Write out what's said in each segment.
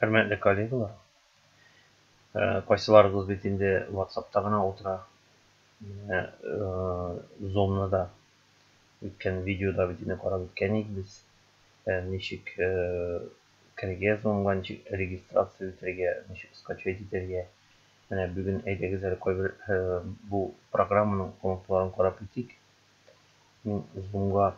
Хөрмәтле коллегалар, э, кайсыларыгыз бит инде WhatsApp-та гына утыра. Менә э, Zoom-ны да үткән видеода бит инде карап үткән идек без. Э, ничек Үткәрергә язылынган ничек регистрация үтәргә, ничек скачать итәргә, менә бүген әйдәгез әле кайбер бу программаның комнаталарын карап үтик. Мин зумга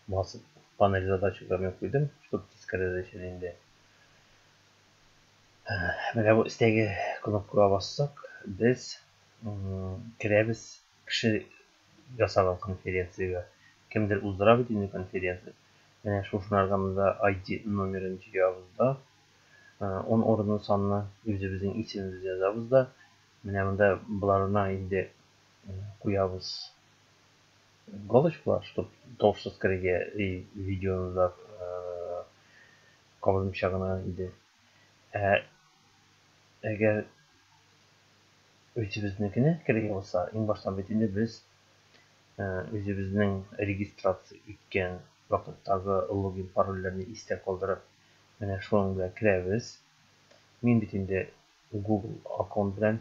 басып панель задачаларны куйдым, чтобы тискәре дә чәл инде. Менә бу өстәге кнопкага бассак, без керәбез кеше ясаган конференциягә. Кемдер уздыра бит инде конференция. Менә шул программада ID номерын җыябыз да, ун урынлы санны үзебезнең исемебез язабыз да, менә монда боларына инде куябыз галочкалар, чтоб тавыш скорее и видеоны да кабызмыйча гына иде. Ә әгәр үзебезнекенә керергә булса, иң баштан бит инде без үзебезнең регистрация иткән вакыттагы логин парольләрне истә калдырып, менә шуның белән керәбез. Мин бит инде Google аккаунт белән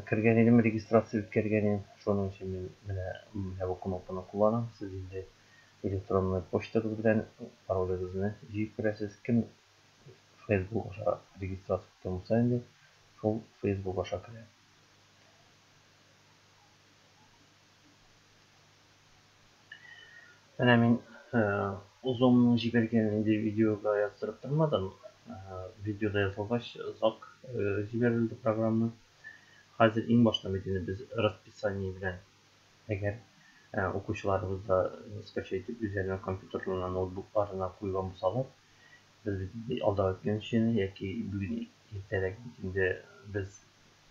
кергән идем, регистрация үткәргән идем. Шуның өчен мин менә менә бу кнопканы кулланам. Сез инде электронный почтагыз белән паролегызны җыеп керәсез. Кем Facebook аша регистрация иткән булса инде, шул Facebook аша керә. Менә мин озонның җибәргән инде видеога яздырып тормадым. Видеода язылгач, озак җибәрелде программа. Хәзер иң башта бит инде без расписание белән әгәр укучыларыбыз да нескача итеп үзләренең компьютерларына, ноутбукларына куйган булсалар, без бит инде алдагы көн өчен яки бүген иртәрәк бит инде без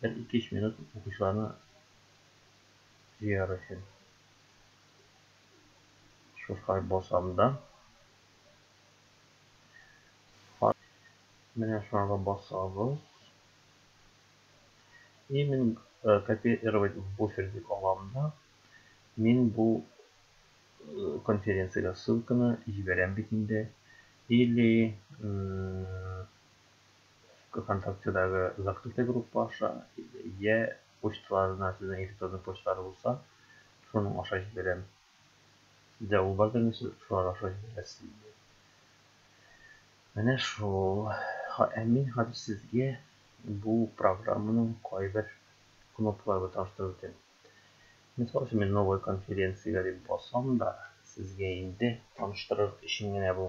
Бер ике-өч минут укучыларны җыяр өчен. Шушай басам да. Менә шуңарга басабыз. И мин э, копировать в буфер дип алам да. Мин бу э, конференциягә ссылканы җибәрәм бит инде. Или Вконтактедагы закрытый группа аша, йә почталарына сезнең электронный почталар булса, шуның аша җибәрәм. Сездә ул бар димени, сез шулар аша җибәрәсез инде. Менә шул. Ә мин хәзер сезгә бу программаның кайбер кнопкалары белән таныштырып үтәм. Мисал өчен, мин новая конференциягә дип басам да, сезгә инде таныштырыр өчен генә бу.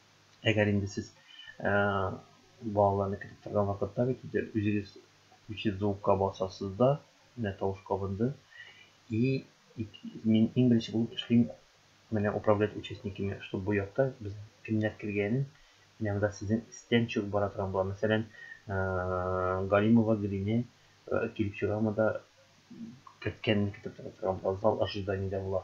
Әгәр инде сез э, балаларны кертеп торган вакытта бит инде үзегез включить звукка басасыз да, менә тавыш кабынды. И мин иң беренче булып эшлим менә управлять участниками, чтобы бу якта без кемнәр кергәнен, менә монда сезнең истән чыгып бара торган була. Мәсәлән, э, Галимова Гөлине э, килеп чыга монда керткәнен кертеп торган була, зал ожиданиедә була.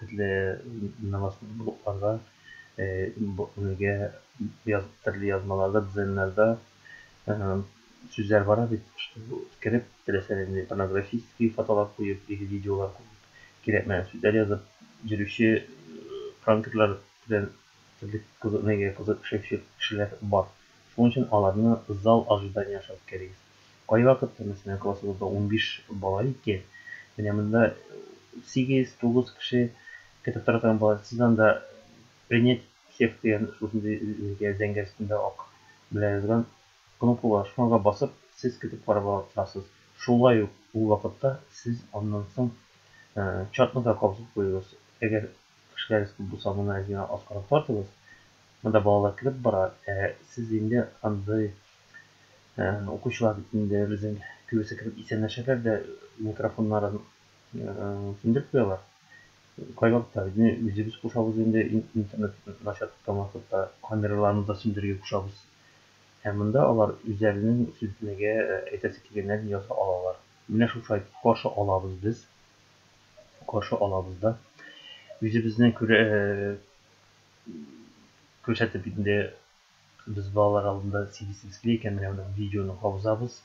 Төрле намаз блокларда бергә төрле язмаларда, дизайннарда сүзләр бара бит, кереп, теләсә нинди порнографический фотолар куеп яки видеолар куеп, кирәкмәгән сүзләр язып йөрүче пранкерлар белән төрле кызыкны кызыкшыйчы кешеләр бар. Шуның өчен аларны зал ожидания аша үткәрегез. Кайвакыт, мәсәлән, классыбызда унбиш бала ике, менә монда сигез, тугыз кеше көтеп тора торган була. Сез анда принять всех дигән шушындый зәңгәр зәңгәр өстендә ак белән язган кнопка бар, шуңарга басып, сез көтеп карап ала торасыз. Шулай ук ул вакытта сез аннан соң чатны да кабызып куегыз. Әгәр кешеләрегез күп булса, моны әз генә аскарак тартыгыз. Монда балалар кереп бара, ә сез инде андый Укучылар бит инде безнең кебесе кебек исәнләшәләр дә микрофоннарын сүндереп куялар. Кайвакыт та безне үзебез кушабыз инде интернет начар тоткан вакытта камераларны да сүндерергә кушабыз. Ә монда алар үзләренең сүнтмәгә әйтәсе килгәннәрен яза алалар. Менә шушы каршы алабыз без. Каршы алабыз да. Үзебезне күрсәтеп инде Без балалар алдында сигезсез склейка, менә моны видеоны кабызабыз.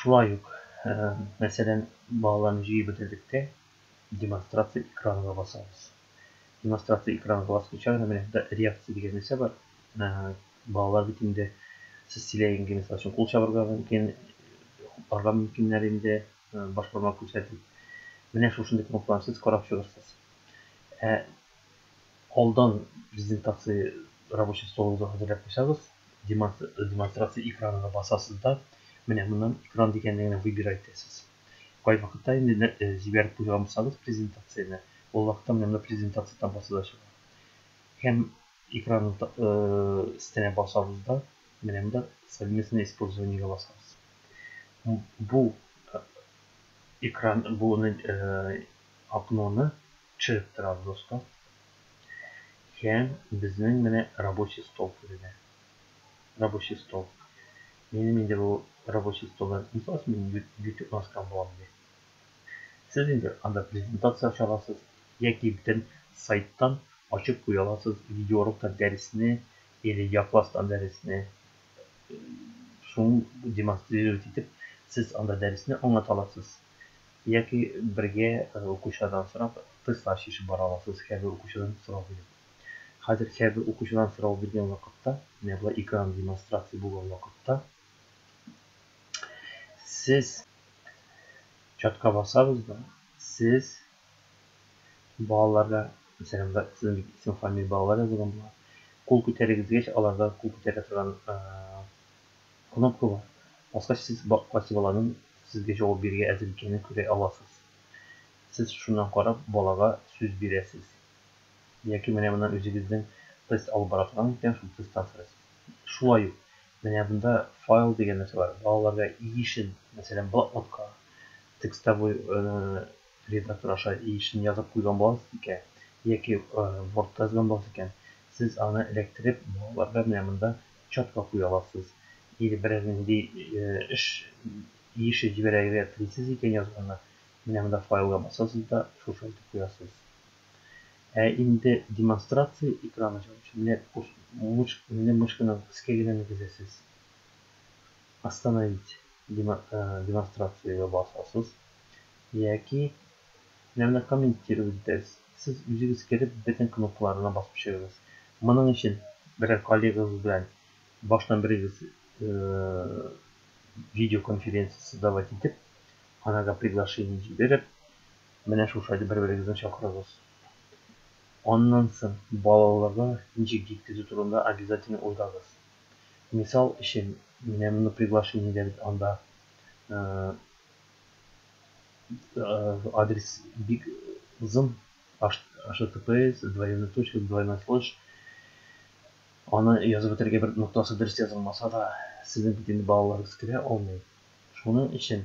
Шулай ук, мәсәлән, балаларны җыеп бетердек тә, демонстрация экранга басабыз. Демонстрация экранга баскыча гына менә монда реакция дигән нәрсә бар. Балалар бит инде сез сөйләгәнгә мисал өчен кул чабырга мөмкин, хупларга мөмкиннәр инде, баш бармак күрсәтеп. Менә шушындый кнопкаларны сез карап чыгырсыз. Ә алдан презентация рабочий столыгызга хәзерләп куйсагыз, демонстрация экранына басасыз да, менә моннан экран дигәнне генә выбирай итәсез. Кайвакытта инде җибәреп куйган булсагыз презентацияне, ул вакытта менә монда презентация таблосы да чыга. Һәм экран өстенә басабыз да, менә монда совместное использованиегә басабыз. Бу экран, бу окноны Чы Травдоска һәм безнең менә рабочий стол түренә. Рабочий стол. Минем инде бу рабочий столдан ихлас мин ютюб маскам булам ди. Сез инде анда презентация ача аласыз, яки бөтен сайттан ачып куя аласыз видеоуроктан дәресне или якластан дәресне, шуны демонстрировать итеп сез анда дәресне аңлата аласыз. яки бергә укучылардан сорап, тестлар чишеп бара аласыз, һәрбер укучыдан сорау биреп. Хәзер һәрбер укучыдан сорау биргән вакытта, менә болай экран демонстрация булган вакытта, сез чатка басабыз да, сез балаларга, мәсәлән, сезнең бит исем-фамилия балалар язылган була, кул күтәрегез дигәч, аларда кул күтәрә торган Кнопка бар, баскач сез баккач баланың сезгә җавап бирергә әзер икәнен күрә аласыз. Сез шуннан карап балага сүз бирәсез. Яки менә моннан үзегезнең тест алып бара торган икән шул тесттан сорыйсыз. Шулай ук менә монда файл дигән нәрсә бар, балаларга иешен, мәсәлән блокнотка, текстовой редактор аша иешен язып куйган буласыз икән, яки вортта язган буласыз икән, сез аны эләктереп балаларга менә монда Чатка куя аласыз. Или берәр нинди эш иеше җибәрергә телисез икән язманы, менә монда файлга басасыз да шушы итеп куясыз. Ә инде демонстрация экраны чыгып китә. Менә курс мыш, менә мышканың өскә генә мигезәсез. Остановить демонстрацияга басасыз яки Менә комментирую үттерегез. Сез үзегез кереп бөтен кнопкаларына басып чыгыгыз. Моның өчен берәр коллегагыз белән баштан берегез видеоконференция создавать итеп, анарга приглашение җибереп, менә шушайды бер-берегезне чакырыгыз. Аннан соң балаларга ничек җиткезү турында обязательно уйлагыз. Мисал өчен, менә мондый приглашениедә бит анда Э, адрес бик озын https двойной точка двойной слэш аны язып бетерергә бер ноктасы дөрес язылмаса да сезнең бит инде балаларыгыз керә алмый шуның өчен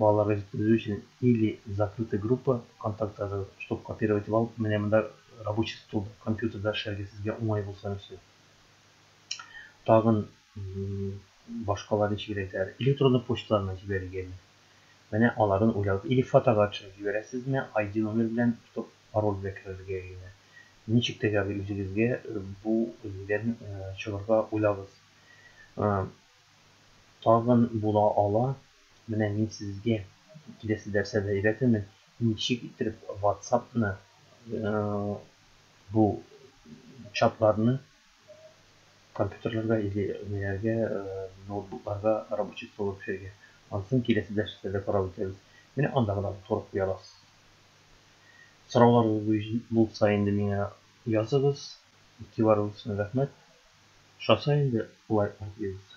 балаларга җиткерү өчен или закрытый группа контактларда чтобы копировать итеп алып менә монда рабочий стол компьютерда эшләргә сезгә уңай булсын өчен тагын башкалар ничегрәк әйтәләр электронный почталарына җибәрергәме Менә алардан уйлабыз. Или фотога төшереп җибәрәсезме, ID номер белән тотып пароль белән керергә генә. Ничек тәгәрли үзегезгә бу дигән чыгырга уйлабыз. Тагын була ала. Менә мин сезгә киләсе дәрсә дә өйрәтермен, ничек иттереп ватсапны бу чатларны компьютерларга или ниләргә, ноутбукларга рабочий стол төшерергә. Анысын киләсе дәресләрдә карап үтәбез. Менә анда гына утырып куя аласыз. Сорауларыгыз булса инде миңа языгыз. Игътибарыгыз өчен рәхмәт. Ошаса инде лайклар куегыз.